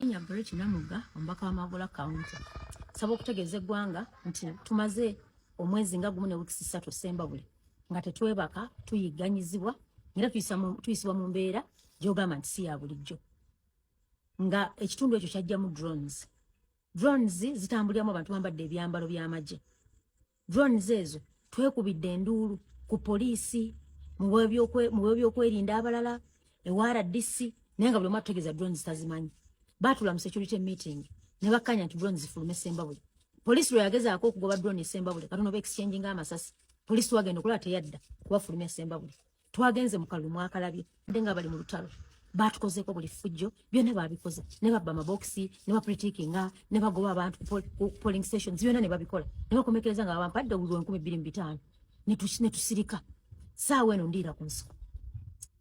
Kenya Brett Namuga omubaka wa Magola County saba okutegeeza eggwanga nti tumaze omwezi nga gumu ne wiikisi ssatu Ssembabule nga tetwebaka tuyigganyizibwa era tuyisibwa mu mbeera gy'ogamba nti si ya bulijjo nga ekitundu ekyo kyajjamu drones drones zitambuliramu abantu bambadde ebyambalo by'amagye drones ezo twekubidde enduulu ku poliisi mu byobyokwelinda abalala ewa rdc naye nga buli omu atutegeeza drones tazimanyi baatula mu security meeting ne bakkaanya nti drones zifulume sembabule poliisi lwe yagezaako okugoba drone esembabule katono ba exchange nga amasasi poliisi wagenda okulaba teyadda kubafulumya sembabule twagenze mu kalulu mwakalabye nde nga bali mu lutalo batukozeeko buli ffujjo byonna babikoze ne babba amabokisi ne bapritikinga ne bagoba abantu ku polling stations byonna ne babikola ne bakomekereza nga babampadde obululu enkumi bbiri mu bitaano ne tusirika saawa eno ndiira ku nsiko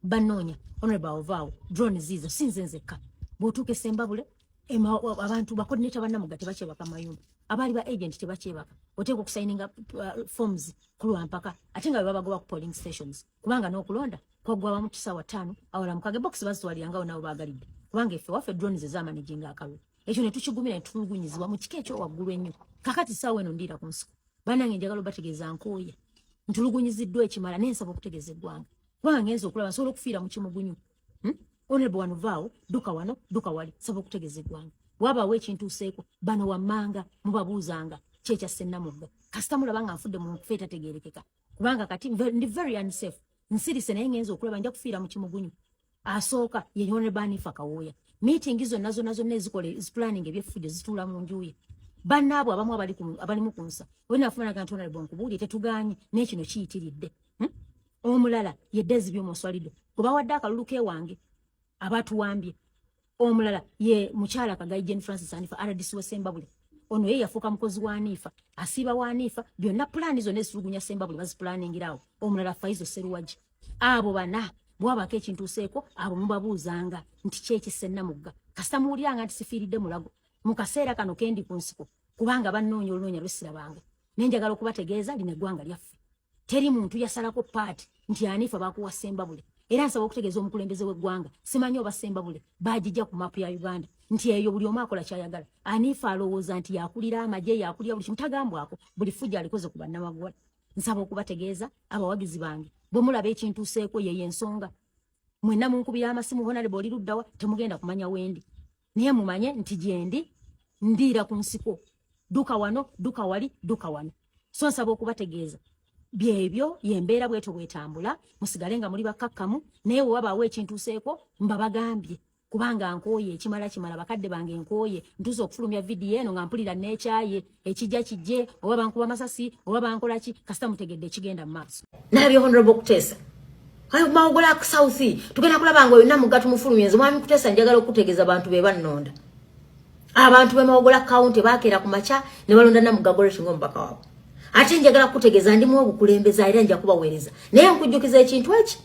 banoonya honorable ovaawo drone ziizo si nze nzekka bw'otuuka esembabule abantu bakodineta banamuga tebakyebaka mayumba abaali ba agent tebakyebaka oteeka okusayininga uh, forms kulwampaka ate nga bebabagoba ku polling stations kubanga n'okulonda kwaggwa wamu kisaawa ttaano awala mukage bokisi bazitwalirangawo nabo baagalidde kubanga effe waffe drone ze zamanejinga akalulu ekyo ne tukigumira ne tulugunyizibwa mu kika ekyowaggulu ennyo kakati ssaawa eno ndiira ku nsiko banange njagala obategeeza nkooye ntulugunyiziddwa ekimala nensaba okutegeeza eggwanga kubanga ngenza okulaba nsobola okufiira mu kimugunyu hmm? onebo wano vaawo duka wano duka wali saba okutegeza eggwanga wabawo ekintuuseeko bano wammanga mubabuuzanga kyekya sennamugga kasita mulaba nga nfudde mu nkufa etategeerekeka kubanga kati ndi very unsafe nsirise naye ngenza okulaba nja kufiira mu kimugunyu asooka ye onebo anifa kawooya meeting zonna zonna zonna ezikola ezipulaninga ebyefujo zituula mu njuye bannaabwe abamu abalimu ku nsa olina afumanaga nti onalebo nkubuulire tetuganye naye kino kiyitiridde hmm? omulala ye dezi byomuswalido kubawadde akalulu kewange abatuwambye omulala ye mukyala kagayi jane francis anifa rdc wesembabule ono ye yafuuka mukozi wa aniifa asiiba wa aniifa byonna pulaani zonna ezitulugunya sembabule bazipulaaningirawo omulala faizo seruwagi abo bana bwabako ekintu useeko abo mubabuuzanga nti kyekisenna mugga kasita muwuliranga nti sifiiridde mulago mu kaseera kano kendi ku nsiko kubanga bannoonya olunoonya lwesirabanga nenjagala okubategeeza lino eggwanga lyaffe teri muntu yasalako paati nti anifa bakuwa sembabule era nsaba okutegeeza omukulembeze w'eggwanga simanyi oba sembabule baagijja ku maapu ya uganda nti eyo buli omu akola kyayagala anifa alowooza nti yakulira amagye yakulira buli kimu tagambwako buli fujja alikoze ku bannamagwala nsaba okubategeeza abawagizi bange bwe mulaba ekintuuseeko yeyo ensonga mwenna munkubira amasimu honalebo oli luddawa temugenda kumanya wendi naye mumanye nti gyendi ndiira ku nsiko duka wano duka wali duka wano so nsaba okubategeeza byebyo yembeera bwetyo bwetambula musigale nga muli bakkakkamu naye wewabaawo ekintuuseeko mba bagambye kubanga nkooye ekimala kimala bakadde bange nkooye ntuuza okufulumya vidiyo eno nga mpulira neekyaye ekijja kijje oba bankuba masasi oba bankola ki kasita mutegedde ekigenda mu maaso nabyo honorable okuteesa ayo mawogola ku south tugenda kulaba nga yonna mugatu mufulumyenze mwami kuteesa njagala okutegeeza abantu be bannonda abantu be mawogola kawunti baakeera ku makya ne balonda namugagore kinga omubaka waabwe ate njagala kukutegeeza ndimu obukulembeza era nja kubaweereza naye nkujjukiza ekintu eki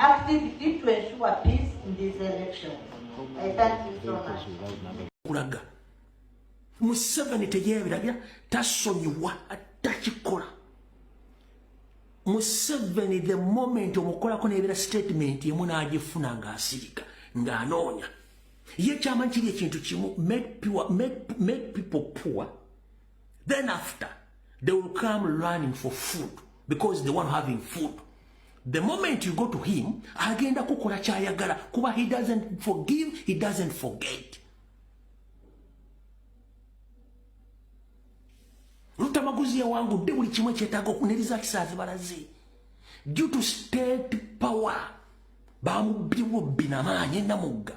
activity to ensure peace in this election. I thank you so much. Kulaga. Museveni teyebirabya tasonyiwa atakikola. Museveni the moment omukolako nebira statement emu n'agifuna ng'asirika ng'anoonya. Ye kyama kiri ekintu kimu make, pure, make, make people poor then after they will come running for food because they want having food the moment you go to him agenda kukola kyayagala kuba he doesn't forgive he doesn't forget lutamaguzi yawangudde buli kimu ekyetaaga okuneriza kisaazi balaze due to state power bamubbiwo binamaanyi enamugga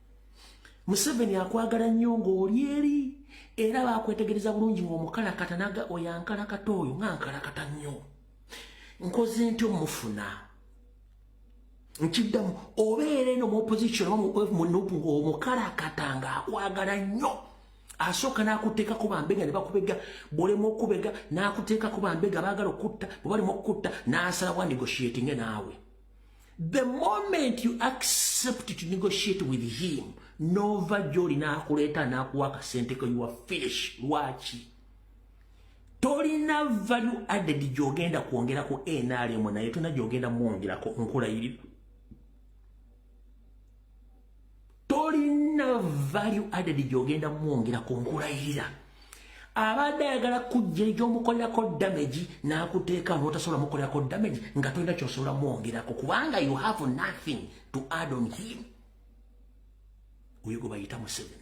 museveni akwagala nnyo ng'oli eri era bakwetegereza bulungi ng'omukalakata naga oyo ankalakata oyo nga nkalakata nnyo nkoze nti omufuna nkiddamu obeera eno mu opposition munupu ng'omukalakata ng'akwagala nnyo asooka n'akuteekako bambega ne bakubega bwolemu okubega n'akuteekako bambega baagala okutta bwe balimu okukutta n'asala wandigoshiatinge naawe the moment you accept to negotiate with him nova joli nakuleeta nakuwa akasente ko your finish lwaki tolina value added gyogenda kwongera ku nrm naye tolina gyogenda mwongerako nkulayirira tolina value added gyogenda mwongera ku nkulayirira abadde ayagala kujja egyomukolerako damage nakuteeka notasobola mukolerako damage nga tolina kyosobola mwongerako kubanga you have nothing to add on him oyo gwe bayita museveni